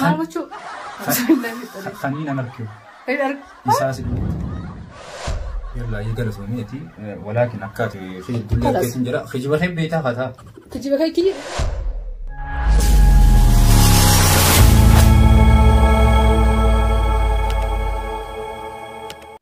Maal gochuu? Kanii nan arkiu. Isaa si dhufu. Yalla ya gara suni ati walakin akkati fi dunya Kalas. kesin jira khijiba hin beeta fata. Kijiba kee kiyya.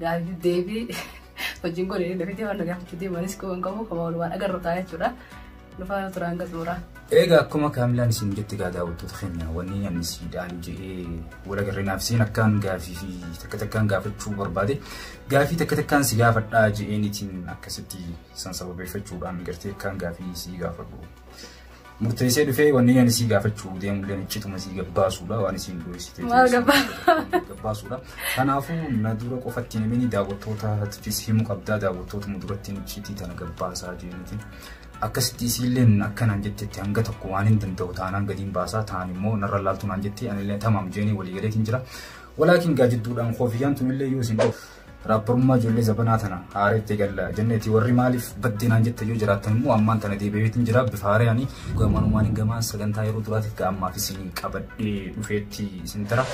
Gaafii deebii hojiin kun inni dafitee waan gaafachuu deemanis koo hin qabu kama walumaan agarru ta'a jechuudha. Nufaa turaan gatuura. Egaa akkuma kaamilaan isin jetti gaa daawwattoota keenya wanni ani siidhaan jedhee wala garrinaaf seen akkaan gaafii fi takka takkaan gaafachuu barbaade gaafii takka takkaan si gaafadhaa jedheenitiin akkasitti san sababeeffachuudhaan gartee akkaan gaafii si gaafadhu. Murteessee dhufee wanni ani sii gaafachuu deemullee iccituma sii gabbaasuudha waan isiin dho'isite. Maal gabbaa- Gabbaasuudha. Kanaafuu na dura qofatti namni daawwattootaafis himu qabdaa daawwattootuma duratti iccitii tana gabbaasaa jeeniti. Akkasitti isiillee akka naan jettetti hanga tokko waan hin danda'u taanaan gadiin baasaa taan immoo narra laaltu naan jetti anillee tamaam jeenii walii galeetiin jira. Walaakin gaajidduudhaan koofiyaan tunillee yoo isin Raapparummaa ijoollee zabanaa tana haareetti egalla jenneeti warri maaliif badde naan jette yoo jiraattan immoo ammaan tana deebi'eetiin jira bifa haareyaani gamanumaan gamaan sagantaa yeroo duraatiif ga ammaaf isin qabadhee dhufeetti isin tara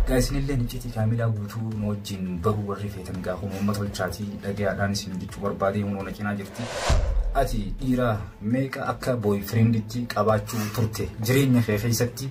gaa isinillee iccitii kaamilaa guutuu nu wajjin baruu warri feetan gaa kun uummata olchaatii dhagayaadhaan isin jechuu barbaadee hunoo na cinaa jirti ati dhiira meeqa akka booy firiinditti qabaachuu turte jireenya kee keessatti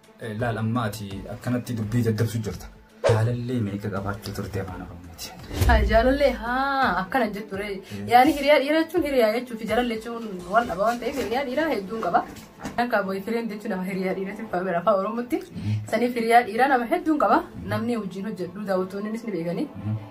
Laal amma ati akkanatti dubbii daddabsu jirta. Jaalallee meeqa qabaachuu turte afaan Oromooti. Jaalallee haa akkana jettu ree. Yaani hiriyaa dhiiraa jechuun hiriyaa jechuu fi jaalallee jechuun wal dhaba waan ta'eef hiriyaa dhiiraa hedduun qaba. Akka boyfriend jechuun nama hiriyaa dhiiraa siif faamira afaan Oromootti. Saniif hiriyaa dhiiraa nama hedduun qaba. Namni wajjin hojjedhu daawwattoonnis ni beekani.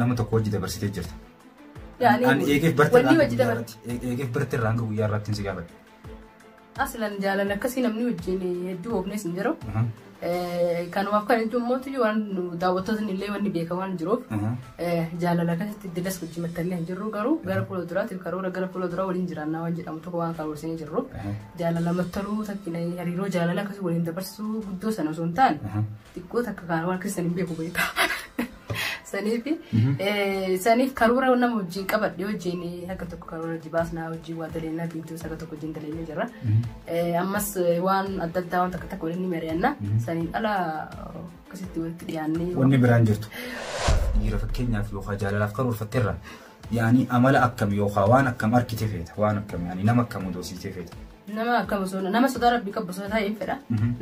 Nama tokko hojii dabarsitee jirta. Yaani Ani eegeef barti wanni irraa hojii hanga dabarti. guyyaa irratti- eegeef barti irraa hanga guyyaa irratti hin si gaafadhu. Aslan jaalala akkasii namni wajjin hedduu oofnes hin jiru. Aha, Eh, Kanumaaf kan jechuun mootu waan nu daawwattootni illee wanni beekan waan jiruuf aha. eh, jaalala akkasitti dilas wajjin maxxannee hin jirru garuu gara fuula duraatiif karoora gara fuula duraa waliin jiraannaa waan jedhamu tokko waan karoorsinee jirru. Aha, Jaalala maxxanuu takkina hariiroo jaalala akkasii waliin dabarsuu guddoo sana osoo hin taane aha. xiqqoo takka kan waan keessan hin beeku beektaa. Saniif saniif karoora nama wajjin qabadhe wajjin akka tokko karoora hojii baasnaa wajjin waa daleenyaa biintuus akka tokko wajjin daleenyaa jirra. Ammas waan adda addaa waan takka takka waliin ni mari'anna. Saniin ala akkasitti walitti dhiyaannee. Wanni biraan jirtu. Dhiira fakkeenyaaf yookaan jaalalaaf karoorfatteerra. Yaani amala akkam yookaan waan akkam argite feeta waan akkam yaani nama akkam doosiisee feeta. Nama akkam osoo nama sodaa rabbii qabu osoo ta'e hin fedha.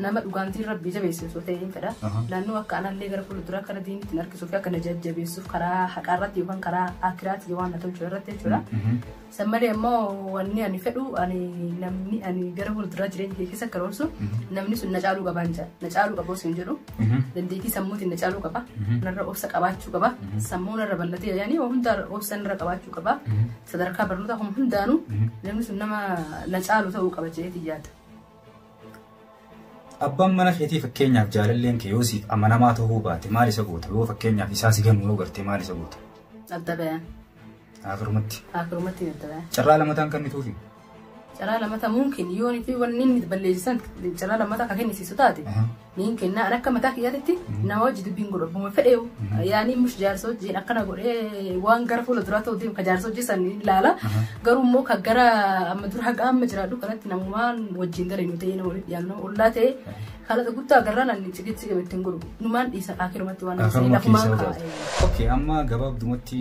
Nama dhugaantiin rabbii jabeessu osoo ta'e hin fedha. Naannoo akka anallee gara fuulduraa kana diinitti hin harkisuuf akka na jajjabeessuuf karaa haqaa irratti yookaan karaa akiraatti waan na tolchu irratti jechuudha. San malee immoo wanni ani fedhu ani namni ani gara fuulduraa jireenya kee keessa karoorsu namni sun na caaluu qaba hin jedhu. Na caaluu qaba osoo hin jedhu. Dandeettii sammuutiin na caaluu qaba. Narra obsa qabaachuu qaba. Sammuu narra bal'atee yaani hundaa obsa narra qabaachuu qaba. Sadarkaa barnootaa kun hundaanuu namni sun nama na caalu ta'uu qaba jedheetiin yaada. Abbaan mana keetii fakkeenyaaf jaalalleen kee yoo siif amanamaa ta'uu baate maal isa goota yoo fakkeenyaaf isaa si gannu yoo garte maal isa goota. Adda bayan. Akirumatti. Akirumatti adda bayan. Carraa lamataan kan mituufi. Caraa lamata mumkin yoon fi wanni inni balleessisan caraa lamata akka kennisiisu taate niin kennaa an akka mataa kiyyaatitti nama wajji dubbiin godhu abbuma fedheewu yaanii mush jaarsa wajjiin akkana godhee waan gara fuula duraa ta'u deemu ka jaarsa hojii san ilaala garuu immoo ka gara amma dura haga amma jiraadhu kanatti namumaan wajjiin gara inni ta'ee nama dhiyaatu nama ollaa ta'e haala guddaa garraan ani cigitti ittiin godhu numaan dhiisa kaakirumatti waan Kaakiruma lafumaan keessaa kaa'e. Okay, amma gabaabdumatti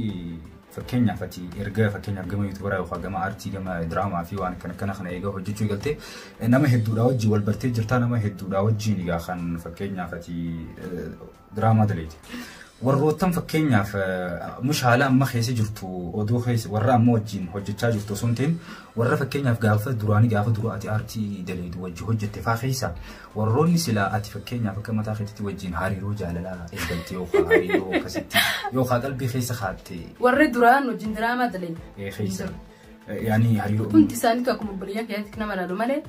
Fakkeenyaaf ati erga fakkeenyaaf gama yuutubaraa yookaan gama aartii gama diraamaa fi waan akkana akkana kana eegaa hojjechuu eegalte nama hedduudhaa wajjin wal bartee jirtaa nama hedduudhaa wajjin egaa kan fakkeenyaaf ati diraamaa daleete. Warroottan fakkeenyaaf mush haala amma keessa jirtu odoo keessa warra amma wajjin hojjechaa jirtu osoo hin ta'in warra fakkeenyaaf gaafa duraanii gaafa dura ati aartii daleetu wajjin hojjette faa keessa Warroonni silaa ati fakkeenyaaf akka mataa keetitti wajjin hariiroo jaalalaa eegalte yookaan hariiroo akkasitti yookaan qalbii keessa kaatte. Warri duraan wajjin diraamaa dalee. Ee keessa. Yaani hariiroo. Hundi isaaniitu akkuma obboleeyyaa keessatti nama ilaalu malee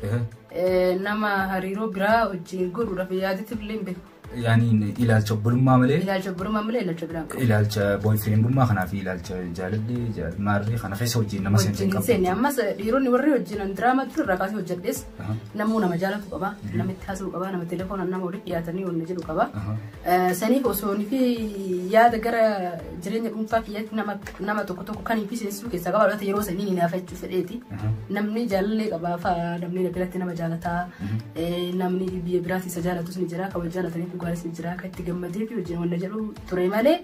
nama hariiroo biraa wajjin godhuudhaaf yaadatti illee hin beeku. Yaani ilaalcha obbolummaa malee. Ilaalcha obbolummaa malee ilaalcha biraa qabu. Ilaalcha boyfriendummaa kanaa fi ilaalcha jaalallee jaalmaarree kana keessa wajjin nama seente hin qabu. Ammas dhiironni warri wajjin diraamaa ture irraa kaasee hojjedhees. Namuu nama jaalatu qaba, namitti haasa'u qaba, nama telefoonaan nama walitti dhiyaatanii wal jedhu qaba. Saniif osoo fi yaada gara jireenya dhuunfaa kiyyaatti nama nama tokko tokko kan fi seensisuu keessaa qaba. Laata yeroo sanii ni naafachuu fedheeti. Namni jaalallee qaba fa'aa, namni na biratti nama jaalataa, namni biyya biraatti isa jaalatus ni jira, kan wal jaalatanii dhugaanis ni jira, kan itti gammadee fi wajjin wal jedhu ture malee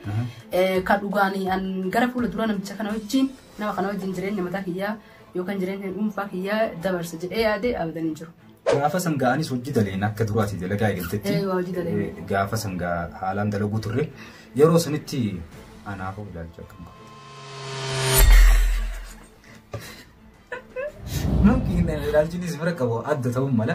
kan dhugaan an gara fuula dura namicha kana wajjin nama kana wajjin jireenya mataa kiyyaa yookaan jireenya dhuunfaa kiyyaa dabarsa jedhee yaadee abadan hin jiru. Gaafa san ga'anis hojii daleen akka duraati dalagaa eegaltetti. Ee, waa hojii dalee. Eh, Gaafa san gaa haalaan dalaguu turre yeroo sanitti anaaf of ilaalcha akkam qabu. Namni ilaalchinis bira qabu adda ta'uu mala.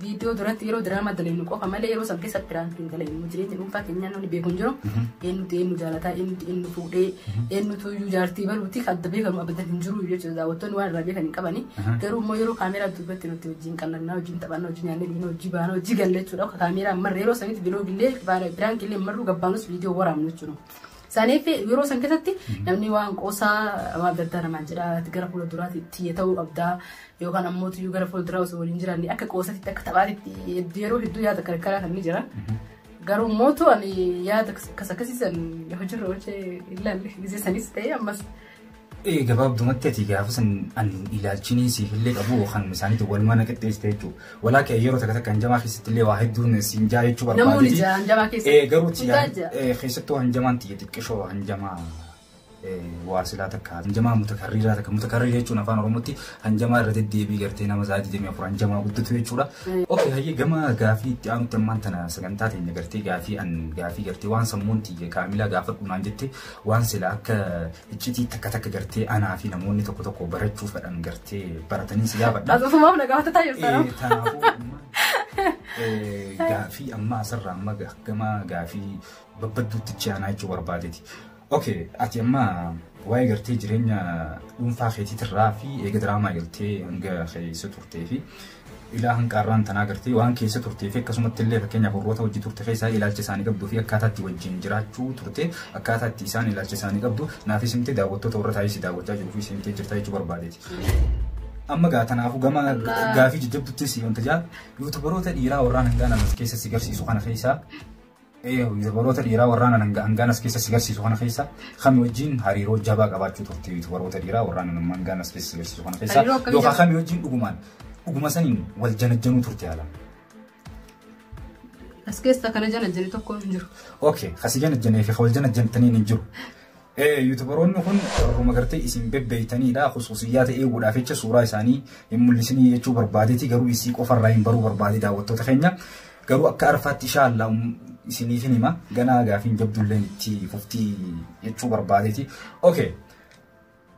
Viidiyoo duratti yeroo diraamaa dalagnu qofa malee yeroo san keessa piraank hin dalagnu jireenya dhuunfaa keenyaa namni beeku hin jiru eenyutu eenyu jaalataa eenyutu eenyu fuudhee eenyutu iyyuu jaartii baluuti adda beekamu abadan hin jiru jechuudha daawwattoonni waan irraa beekan hin qabani garuu immoo yeroo kaameeraa dubbatti nuti wajjin qallannaa wajjin taphannaa wajjin nyaannee dhiina wajjin baana wajjin galla jechuudha akka kaameeraa marre yeroo sanitti biloogillee piraank illee marru gabbaanus viidiyoo waraabnu jechuudha. Saniif yeroo san keessatti namni waan qoosaa waan adda addaa namaan jedha gara fuula duraatti itti ta'uu qabdaa yookaan ammoo tuyyuu gara fuulduraa osoo waliin jiraanne akka qoosatitti akka taphaatitti hedduu yeroo hedduu yaada karkaraa kan ni jira. Garuu mootu ani yaada akkas akkasiisan hojiirra oolchee ilaalle gisee sanis ta'ee ammas. Ee gabaabdumatti ati gaafa san an ilaalchinii siif illee qabu kan isaaniitu wal mana qixxeessite jechuudha. Walaa kee yeroo takka takka hanjamaa keessatti illee waa hedduun siin jaa jechuu barbaadeti. Namoonni jaa hanjamaa keessa. Ee garuu keessattuu hanjamaan tiyya xiqqishoo hanjamaa waasilaa takka hanjamaa mutakarriiraa takka mutakarrii jechuun afaan oromootti hanjamaa irra deddeebii gartee nama isaa 24 hanjamaa guddatu jechuudha. Oke hayyee gama gaafii itti aanutti ammaan tana sagantaa teenya gartee gaafii an gaafii gartee waan sammuun tiyya kaamilaa gaafadhu naan jette waan sila akka iccitii takka takka gartee anaa fi namoonni tokko tokko barachuu fedhan gartee baratanii si gaafadha. Asumaaf na gaafataa jirta nama. Kanaafuu amma gaafii amma asirraa amma gama gaafii babbadduutti itti aanaa jechuu barbaadeeti. Okay, ati amma waa'ee gartee jireenya dhuunfaa keetiitirraa fi eega diraamaa galtee hanga keessa turtee fi ilaa hanqaarraan tanaa gartee waan keessa turtee fi akkasumatti illee fakkeenyaaf warroota hojii turte keessaa ilaalcha isaanii qabduu fi akkaataa itti wajjin jiraachuu turte akkaataa itti isaan ilaalcha isaanii qabdu naafis himte daawwattoota warra taa'ee si daawwachaa jiruu fi si himtee jirtaa jechuu barbaadeeti. amma gaa kanaafuu gama gaafii jajjabduttis wanta jaa yuutubaroota dhiiraa warraan hangaa namas keessa si garsiisu kana keessaa Yuutubaroota dhiiraa warraan hangaan as keessa si garsiisu kana keessa kami wajjin hariiroo jabaa qabaachuu turte yuutubaroota dhiiraa warraan hangaan as keessa si garsiisu kana keessa Hariiroo akkamii yookaan jabaa? kami wajjin dhugumaan dhuguma saniin wal janajjanuu turte haala. As keessa kana jana jani tokko hin jiru. Okay, kasi janajjanee fi wal janajjantaniin hin jiru. Ee yutubaroonni kun warruma gartee isin bebbeeytaniidha khusuusiyyaata eeguudhaaf jecha suuraa isaanii hin mul'isinii jechuu barbaadeeti garuu isii qofa irraa hin baruu barbaade daawwattoota keenya garuu akka arfaatti ishaallaa isiniif hin hima ganaa gaafiin jabdulleen itti fuftii jechuu barbaadeeti okay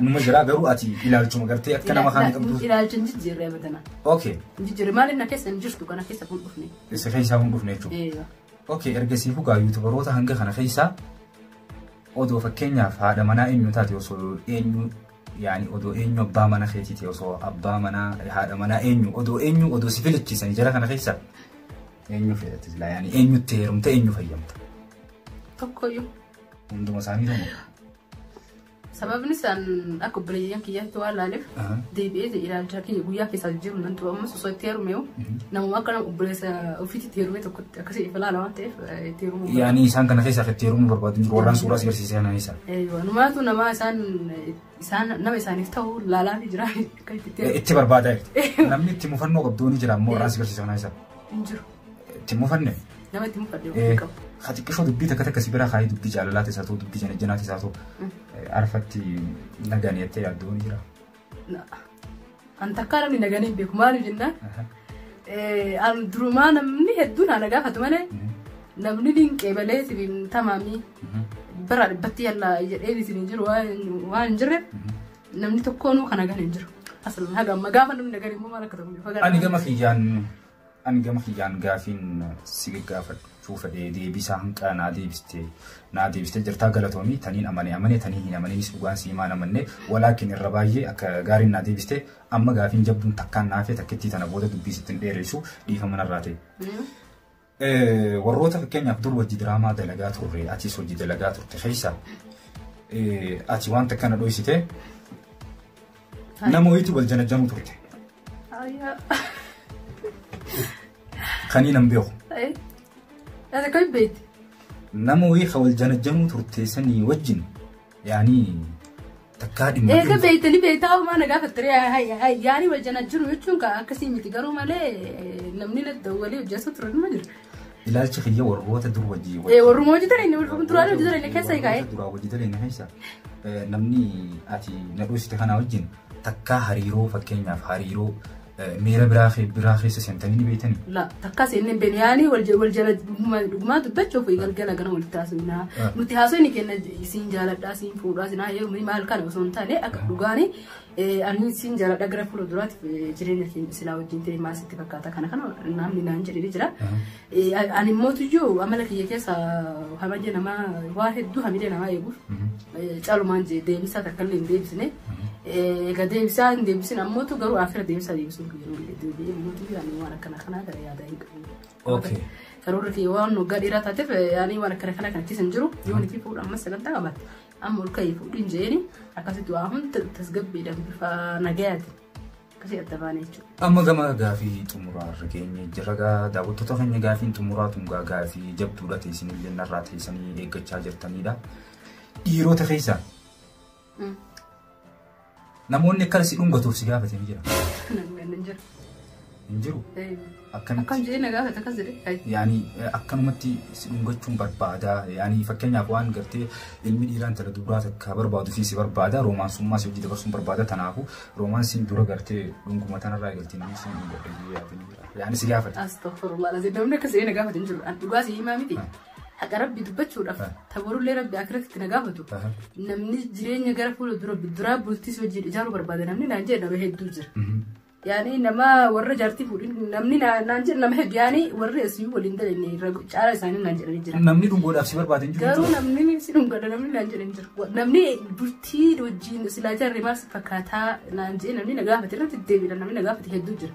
Numa jira garuu ati ilaalchuma gartee akka nama kaanii qabdu. Ilaalcha hin jijjiirre abadanaa. Okay. Hin jijjiirre maaliif na keessa hin jirtu kana keessa kun dhufne. Isa keessaa kun dhufne jechuudha. Eeyyoo. Okay ergasii hugaa yuutubaroota hanga kana keessaa odoo fakkeenyaaf haadha manaa eenyu taate osoo eenyu yaani odoo eenyu abbaa mana keetiiti osoo abbaa manaa haadha manaa eenyu odoo eenyu odoo si filachiisanii jara kana keessaa eenyu filatte silaa yaani eenyutti heerumte eenyu fayyamta Tokkoyyuu. hunduma isaanii ta'u. Sababni isaan akka obboleeyyan kiyyaatti waan laaleef deebi'ee ilaalcha kiyya guyyaa keessaa jiru nan ture ammas osoo itti heerumeeyu namuma akka nama obboleessa ofiitti itti heerumee tokkotti akkasii ifa laala waan ta'eef itti heerumuu Yaani isaan kana keessaa itti heerumuu barbaadu jiru warraan suuraa si garsiisee kana keessaa. Numaatu nama isaan isaan nama isaaniif ta'u laalaa fi jiraa akka itti heerumu Itti barbaadaa jirti. Namni itti mufannoo qabdu ni jira ammoo warraan si garsiisee kana keessaa. hin jiru. Itti mufanne. Nama itti mufadhe ofii qabu. Haa xiqqishoo dubbii takka takka si biraa kaayee dubbii jaalalaa keessaa ta'u dubbii janajjanaa keessaa ta'u arfatti nagaan jettee yaaddoo ni jira. An takkaa namni nagaan hin beeku maaliif jennaan an durumaa namni hedduun ana gaafatu malee namni dinqee balee sibiin tamaamii bara dhibbatti yalla jedhee isin jiru waan hin jirreef namni tokkoonuu kan nagaan hin jiru. Asal haga amma gaafa namni nagaan immoo maal akka ta'u. Ani gama kiyyaan Ani gama kiyyaan gaafiin si gaggaafachuu fedhe deebii isaa hanqaa naa deebiste naa deebiste jirtaa galatoomii taniin amane amane tanii hin amaninis dhugaan si himaan amanne walaakin irra baay'ee akka gaariin naa deebiste amma gaafiin jabduun takkaan naa hafee takkittii tana booda dubbii sitti hin dheereessu dhiifama narraa ta'e. Warroota fakkeenyaaf dur hojii diraamaa dalagaa turre atis hojii dalagaa turte keessa ati wanta kana dhoysite Nama wayiitu wal janajjamu turte. Ayyaa. Kanii nan beeku. Ayy. Ati kami beekti? Nama wayii ka wal janajjamu turte sanii wajjin yaanii takkaa dhimma. Eega beektanii beektaa uumaa na gaafatte yaani wal janajjiru jechuun ka akkasii miti garuu malee namni na dawwalee hojjatu ture nima jira. Ilaalchi kiyya warroota dur wajjii wajjii. Eh, warruma hojii dareen warruma duraan hojii dareen keessa hikaa eh. Duraa hojii dareen keessa eh, namni ati na dhuusite kanaa wajjin takkaa hariiroo fakkeenyaaf hariiroo eh, miira biraa kee- biraa keessa seentanii ni beektanii. La takka seenne hin beekne yaani wal jala wal jala dhuguma dhugumaa dubbachuuf galgala gana walitti haasofna. Ah. Nuti haasofni kenna isin jaaladhaa isin fuudhaa isin haayee maal kana osoo hin taane akka dhugaani Ani siin jaaladha gara fuula duraatti jireenya keenya silaa wajjin ta'e maal sitti fakkaata kana kana namni naan jedhee jira. Ani mootiyyuu amala kiyya keessa hamilee namaa waa hedduu hamilee namaa eeguuf calumaan deebisaa takka illee hin deebisne. Egaa deebisaa hin deebisin ammoo garuu afira deebisaa deebisuun kiyya mootiyyuu ani waan akkana kanaa gara yaadaa hin qabu. Karoorri kiyya waan waggaa dheeraa taateef ani waan akkana kana kan keessa hin jiru yoo nitii fuudhu ammas sagantaa qabatte. Amma ol ka'ii fuudhin jeeni akkasitti waa hunda tasgabbiidhaan bifa nagayaati. Akkasii adda baane jechuudha. Amma gama gaafii xumuraa irra geenye jira gaa daawwattoota keenya gaafiin xumuraa tun gaa gaafii jabduudha teessin illee narraa teessanii eeggachaa jirtanidha. Dhiirota keessaa Namoonni akka si dhungatuuf si gaafate ni jira. Hin jiru. Akkamitti? Akkam jedhee na gaafata akkas jedhee. Yaani akkanumatti si dhungachuun barbaada. Yaani fakkeenyaaf waan gartee ilmi dhiiraa intala dubaraa takka barbaadu fi si barbaada. Roomaansummaa si hojii dabarsuun barbaada. Kanaafuu roomaansiin dura gartee dhunguma tanarraa eegaltee namni si dhungadha. Yaani si gaafata. Astagfirullah. Namni akkas jedhee na gaafata hin jiru. Dhugaa si himaa miti. haqa rabbi dubbachuudhaaf Ah. ta borullee rabbi akiratitti na gaafatu Aha. namni jireenya gara fuula dura duraa bultiis wajjin ijaaruu barbaada namni naan jedhe nama hedduu jira Mhm. yaani nama warra jaartii fuudhin namni naa- naan jedhe nama hedduu yaani warri asii waliin dalenne irra caala isaanii naan jedhanii jira Namni dhungoodhaaf si barbaade hin jiru. garuu namni si dhungadha namni naan jedhe hin jiru Wa- namni bultii wajjin silaa jaarree maal si fakkaataa naan jedhe namni na gaafate irratti deebiidha namni na gaafate hedduu jira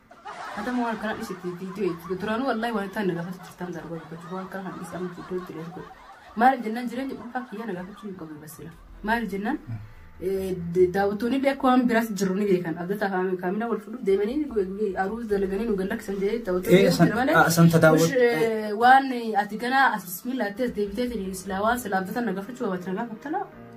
Hata mo halkan hadhis itti video itti duranu wallahi waan tan naga fasu tan darba dubbatu waan kan hadhis amma video itti lees godhu maal jennan jireenya dhuunfaa kiyya naga fasu hin qabu basila maal jennan daawwattoonni illee akka waan biraas jiru ni beekan abdata kaamina wal fuudhuuf deemanii aruus dalaganii nu gallakkisan jedhee Eh, daawwattoonni san- jira malee ah, san tadaawwat- mush, eh, waan ati ganaa as bismillah atte as deebitee silaa waan silaa abdata naga fachu waan naga fattala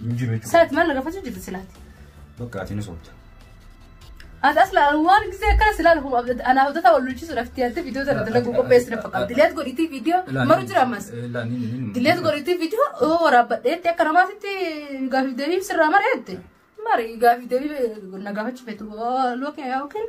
Hin jiru jechuudha. Saati maal nagafachuu jirti silaati? Bakka ati ni soofta. Ati asla waan gisee akkana silaan huma anaa hojjata wal lolchiisuudhaaf itti yaalte viidiyoo tana dalaguu qopheessi na fakkaata. Dileet godhitii viidiyoo maru jira ammas. Dileet godhitii viidiyoo yoo waraabbadheetti akka namaatitti gaafii deebii sirraa mareette. Mari gaafii deebii nagafachuu feetu lookiin yookiin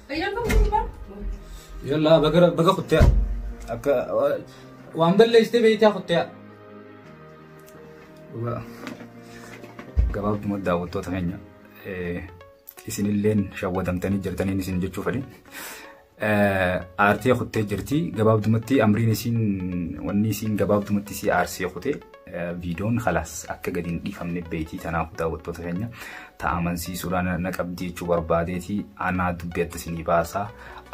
Yalla baga baga kuttiya. Akka waan balleessitee beektaa kuttiya. Dhugaa gabaabduma daawwattoota keenya isinilleen shawwatamtanii jirtaniin isin jechuu fedhe. Aartee kuttee jirti gabaabdumatti amriin isiin wanni isiin gabaabdumatti isii aarsee kutee viidoon kalaas akka gadi hin dhiifamne beekii kanaaf daawwattoota keenya ta'a amansiisuudhaan na qabdi jechuu barbaadeeti anaa dubbii adda isinii baasaa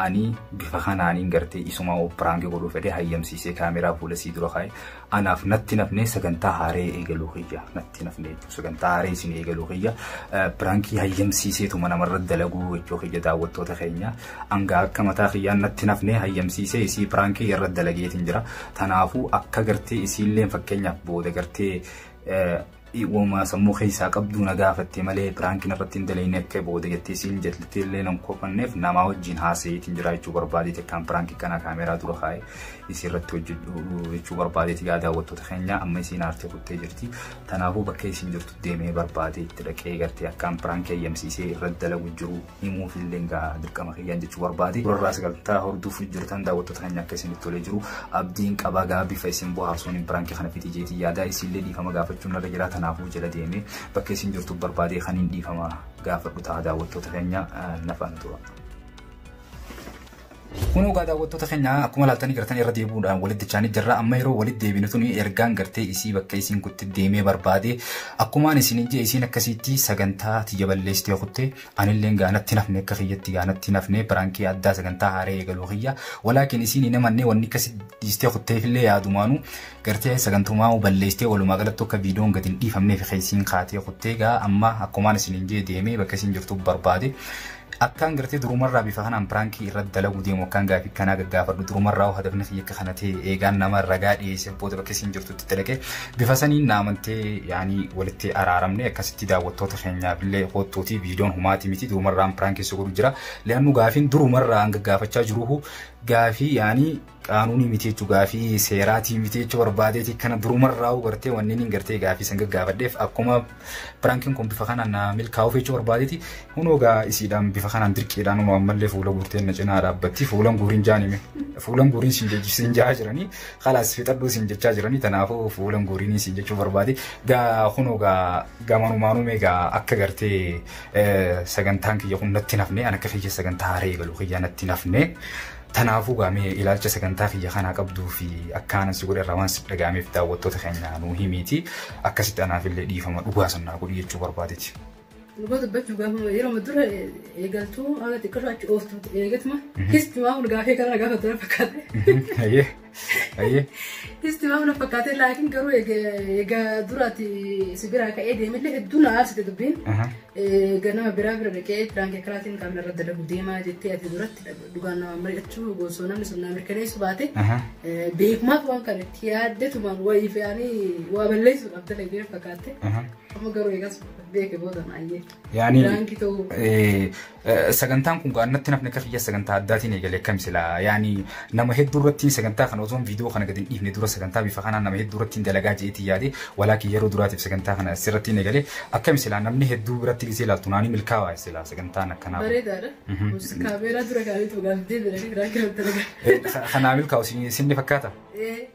ani bifa kanaaniin gartee isumaa piraanki godhuu fedhee hayyamsiisee kaameraa fuula sii dura kaa'e anaaf natti nafnee sagantaa haaree eegaluu kiyya natti nafnee jechuu sagantaa haaree isin eegaluu kiyya piraankii hayyamsiiseetuma namarra dalaguu jechuu kiyya daawwattoota keenya. Anga akka mataa kiyyaan natti nafnee hayyamsiisee isii piraankii irra dalageetiin jira. Tanaafuu akka gartee isiilleen fakkeenyaaf booda gartee wama sammuu keessaa qabduu na gaafatte malee piraankiin irratti hin dalagne akka booda jettee siin jettee illee nan kofanneef namaa wajjin haasa'iitiin jira jechuu barbaadeeti akkaan piraankii kana kaameeraa dura kaa'e isii irratti hojjedhu jechuu barbaadeeti gaa daawwattoota keenya amma isiin aartee kuttee jirti tanaafuu bakka isiin jirtu deemee barbaadee itti dhaqee gartee akkaan piraankii hayyamsiisee irratti dalagu jiru himuuf illee egaa dirqama kiyyaan jechuu barbaade. Durarraa sagantaa hordofuuf jirtan daawwattoota keenya akka isinitti tolee jiru abdiin qabaa gaa bifa isin bohaarsuun biraanki kana fiti jeetii yaadaa isinillee dhiifama gaafachuun irra jira kanaafuu jala deemee bakka isin jirtu barbaadee kan hin dhiifama gaafadhu ta'a daawwattoota keenya nafaan tura. Kunoo gaa daawwattoota keenya akkuma laaltanii gartanii irra deebi'uudhaan walitti dachaanii jirra amma yeroo walitti deebinu tuni ergaan gartee isii bakka isiin kutti deemee barbaade akkumaan isin hin jee isiin akkasiitti sagantaa tiyya balleessitee kutte anilleen gaanatti nafne akka kiyyatti gaanatti nafne biraankii addaa sagantaa haaree eegaluu kiyya walaakin isiin hin amanne wanni akkasi dhiistee kutteefillee yaadumaanu gartee sagantumaa balleessitee walumaa galattu akka viidiyoon gadi hin dhiifamneef keessiin kaatee kuttee gaa amma akkumaan isin hin jee deemee bakka isiin jirtu barbaade Akkaan gartee durumarraa bifa kanaan piraankii irratti dalaguu deemu akkaan gaafii kanaa gaggaafadhu durumarraa hoo hadafni kiyya akka kana ta'e eegaan nama ragaa dhiyeesseef booda bakka isiin jirtutti dalagee bifa saniin na amantee yaanii walitti araaramne akkasitti daawwattoota keenyaaf illee hoottuutii viidiyoon humaatii miti durumarraan piraankii si godhu jira li'annu gaafiin durumarraa hanga gaafachaa jiruhu gaafii yaanii qaanuunii miti jechu gaafii seeraatii miti jechu barbaadeeti kana durumarraa'u gartee wanni niin gartee gaafii san gaggaafadheef akkuma piraankiin kun bifa kanaan naa milkaa'uuf jechu barbaadeeti hunoo gaa isiidhaan bifa kanaan dirqiidhaan hunoo ammallee fuula guurteen na cinaa dhaabbatti fuulan guuriin jaanime fuulan guuriin siin jechisiin jaa jiranii kalaas fixadhuu siin jechaa jiranii tanaafuu fuulan guuriin siin jechuu barbaade gaa hunoo gaa gamanumaanuu mee gaa akka gartee sagantaan kiyya kun natti nafne an akka kiyya sagantaa haree galu kiyya natti nafne Tanaafuu gaa mee ilaalcha sagantaa kiyya kanaa qabduu fi akkaanan si godhe irraa waan sitti dhaga'ameef daawwattoota keenya nuu himiiti akkasitti anaaf illee dhiifama dhugaa san naa godhi jechuu barbaadeti. Dhugaa dubbachuu gaafa yeroo dura eegaltuu haala xiqqarraa achi ooftu eegatuma kisti waan gaafee kana gaafa dura fakkaate. Ayyee. Isti waan na fakkaatee laakiin garuu egaa duraati si biraa ka'ee deemillee hedduu na aarsite dubbiin. Ganama biraa bira dhaqee piraanki karaatiin qaamni irra dalagu deemaa jettee ati duratti dhugaan nama mari'achuu goosoo namni sun na mirkaneessu baate beekumaaf waan kan itti yaaddetumaan wayii fe'anii waa balleessuudhaaf dalagee fakkaatte. Amma garuu eegas beeke booda maayyeetti. Yaani Biraanki ta'uu. eh, eh, sagantaan kun gaannatti nafni akka kiyya sagantaa addaatiin eegale akkam sila yaani nama hedduu irratti sagantaa kana osoo viidiyoo kana gadi hin dhiifne dura sagantaa bifa kanaan nama hedduu irratti dalagaa jeetii yaade walaakin yeroo duraatiif sagantaa kana asirratti hin eegale akkam sila namni hedduu biratti gisee ilaaltu naanii milkaawaa sila sagantaan akkanaa kun. Bareedaadha. Mhm. Kunis Kaameeraa dura kaa'anii tuugaaf deebiidha. Biraanki irratti argaa. Eh, ka- Kanaa milkaa'u isin- isin ni fakkaata. Eh.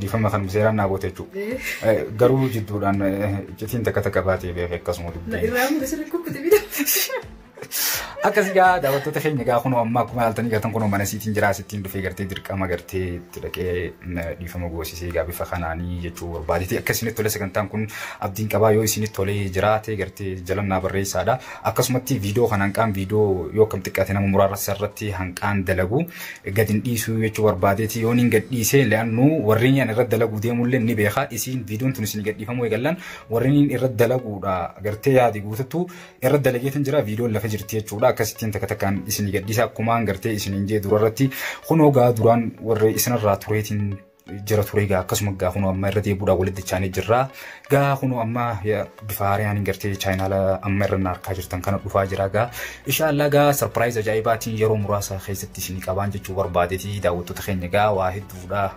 Dhiifama kan seeraan naa goote jechuudha. Garuu jidduudhaan iccitiin takka takka baatee beekee akkasuma dubbii. Akkas egaa daawwattoota keenya egaa kunoo amma akkuma yaaltanii gatan kunoo mana siitiin jiraa sittiin dhufee gartee dirqama gartee itti dhaqee dhiifama goosisee egaa bifa kanaanii jechuu barbaadeti akka isinitti tole sagantaan kun abdiin qabaa yoo isinitti tolee jiraate gartee jalannaa barreessaadha akkasumatti viidiyoo kan hanqaan viidiyoo yoo akkam xiqqaate nama muraarra irratti hanqaan dalagu gadin dhiisuu jechuu barbaadeeti yoon hin gadhiisee le'annu warreen yan irra dalaguu deemullee ni beeka isiin viidiyoon tun isin gadhiifamuu eegallan warreen irra dalaguudha gartee yaadi guututtu irra dalageetiin jira viidiyoon lafa jirti jechuudha akkasittiin takka takkaan isin gadhiisa akkumaan gartee isin hin jee durarratti kunoo gaa duraan warree isinirraa tureetiin jira ture egaa akkasuma egaa kunoo amma irra deebuudhaan walitti chaanee jirra. Egaa kunoo amma bifa haariyaan hin gartee chaayinaala amma irra na harkaa jirtan kana dhufaa jira egaa. Inshaallah egaa sarpiraayiz ajaa'ibaatiin yeroo muraasa keessatti isin qabaan jechuu barbaadeti daawwattoota keenya egaa waa hedduudha.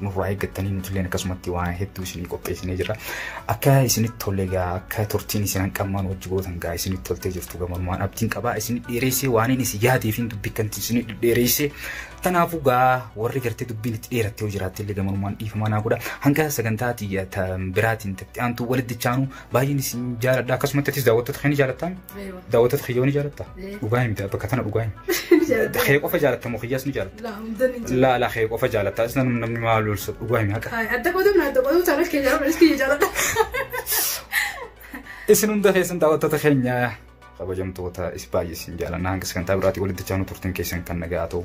Nurraa eeggattanii nutilleen akkasumatti waa hedduu isinii qopheessinee jira. Akka isinitti tolle egaa akka turtiin isin hanqammaan hojii gootan egaa isinitti toltee jirtu gamanumaan abdiin qabaa isin dheereessee waaniin isin yaadeefiin dubbikkanti isin dheereessee Kanaafuu gaa warri gartee dubbiin itti dheeratte yoo jiraatte illee gamanumaan dhiifamaa naa godha. Hanga sagantaa ati biraatiin tatti aantu walitti chaanu baay'een isin jaaladha. Akkasumatti atis daawwattoota kee ni jaalattaa? Daawwattoota kiyya ni jaalatta? Dhugaa hin bitaa bakka tana dhugaa hin. Kee qofa jaalatta moo kiyyaas ni jaalatta? Laa laa kee qofa jaalatta. As namni namni maal lolsa dhugaa hin haqa. Adda qoodamna adda qoodamna chaanas kee jaaladha. Isin hunda keessan daawwattoota keenya Kabajamtoota is baay'ee isin jaalannaa hanga sagantaa biraatii walitti chaanuu turtiin keessan kan nagaa ta'u.